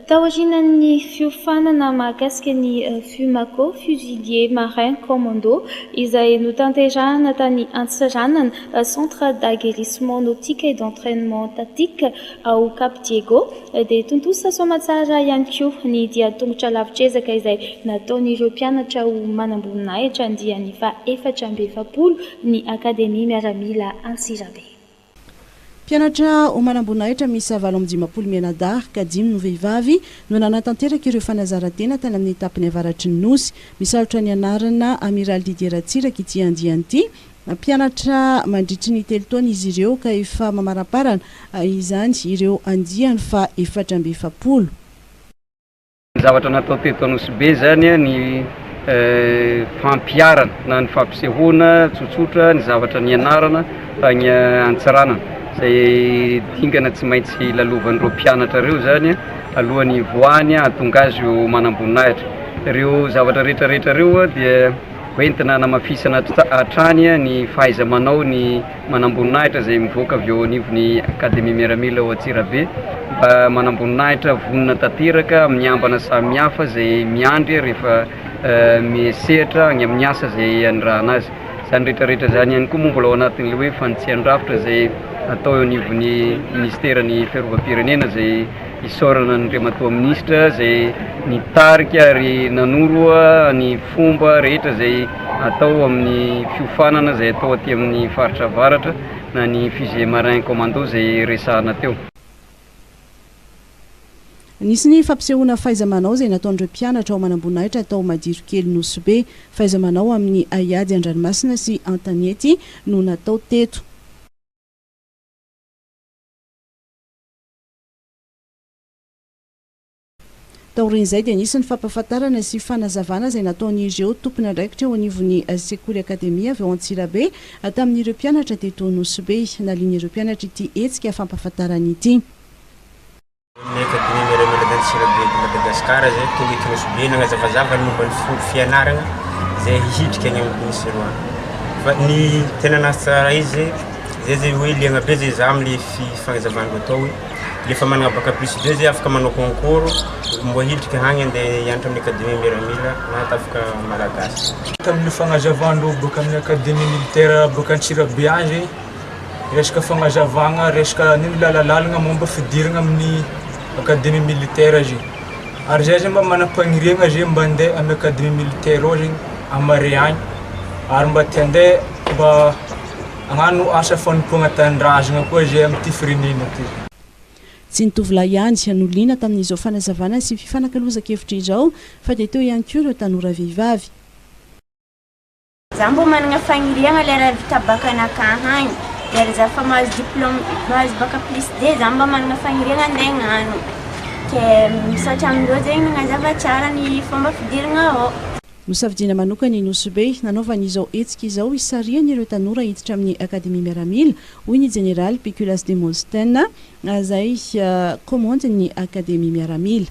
Taorianan'ny fiofanana mahakasika ny Fumako, Fusiliers Marins Commandos, izay notanterahina tany Antsiranana, Centre d'Aguerrissement Nautique et d'Entrainement Tactique, ao Cap Diego, dia tontosa soamantsara ihany koa ny dian-tongotra lavitr'ezaka izay nataon'ireo mpianatra ho manamboninahitra andiany faha-efatra amby efapolo ny Akademia Miaramila Antsirabe. Mpianatra ho manamboninahitra miisa valo amby dimampolo mianadahy, ka dimy no vehivavy, no nanatanteraka ireo fanazaran-tena tany amin'ny tapany avaratry ny Nosy. Misalotra ny anarana Amiraly Didier Ratsiraka ity andiany ity. Mpianatra mandritry ny telo taona izy ireo, ka efa mamaramparana izany ireo andiany faha efatra amby efapolo. Ny zavatra natao teto Anosibe zany ny fampiharana na ny fampisehoana tsotsotra ny zavatra nianarana tany Antsiranana izay dingana tsy maintsy lalovan'ireo mpianatra ireo zany alohan'ny hivoahany hahatonga azy ho manamboninahitra. Ireo zavatra rehetra rehetra ireo dia hoentina hanamafisana hatrany ny fahaiza-manao ny manamboninahitra izay mivoaka avy eo anivon'ny Akademia Miaramila ao Antsirabe mba manamboninahitra vonona tanteraka amin'ny ambana samihafa izay miandry rehefa misehatra any amin'ny asa izay anirahana azy. Izany rehetra rehetra izany ihany koa moa mbola ao anatin'ilay hoe fanitsian-drafitra izay atao eo anivon'ny Ministeran'ny Fiarovam-pirenena izay Isaorana an'Andriamatoa Minisitra izay nitarika ary nanoro ny fomba rehetra izay atao amin'ny fiofanana izay atao aty amin'ny Faritra Avaratra na ny Fusiliers Marins Commandos izay resahana teo. Nisy ny fampisehoana fahaiza-manao izay nataon'ireo mpianatra ao Manamboninahitra tao Madirokely Nosy Be. Fahaiza-manao amin'ny haiady an-dranomasina sy an-tanety no natao teto. Taorian'izay dia nisy ny fampahafantarana sy fanazavana izay nataon'ireo tompon'andraikitra eo anivon'ny sekoly Akademia avy ao Antsirabe tamin'ireo mpianatra teto Nosy-Be. Nalian'ireo mpianatra ity hetsika fampahafantarana ity. Ny Akademia Miray Manadanja Antsirabe eto Madagasikara izay tonga eto Nosy-Be nagnazavazava ny momba ny fomba fianarana izay hidrika any amin'ny Nosy eroa. Fa ny tena nahatsara izy. Zay zay hoe liagna be zay za amle fifagnazavan reo atao hoe le efa managna bac plus deux zay afaka manao concours mbo hiditra hagny ande hianatra amle academie miaramila na atafika malagasy. Tamle fagnazavan reo boaka amle academie militaire boaka antsirabe agny zay resaka fagnazavagna resaka nino lalalalagna momba fidirana amle academie militaire zay ary za zay mba manampagniriagna zay mba ande amle academie militaire ao zay amare agny ary mba te ande mba Hano asa fanompoagna tanindrazagna koa izay amin'ity firenena ty. Tsy ny tovolahy ihany no liana tamin'izao fanazavana sy fifanakalozan-kevitra izao fa dia teo ihany koa ireo tanora vehivavy. Za mbo managna fagniriagna le raha vita bac anakah agny de ary za fa mahazo diplome mahazo bac plus deux za mba managna fagniriagna ande agnano ke misaotra amireo zegny nagnazava tsara ny fomba fidiragna ao. Nosafidiana manokana i Nosy Be nanaovany izao hetsika izao hisarihany ireo tanora hiditra amin'ny Akademia Miaramila, hoy ny Jeneraly Pikulas Demosthène, izay kaomandin'ny Akademia Miaramila.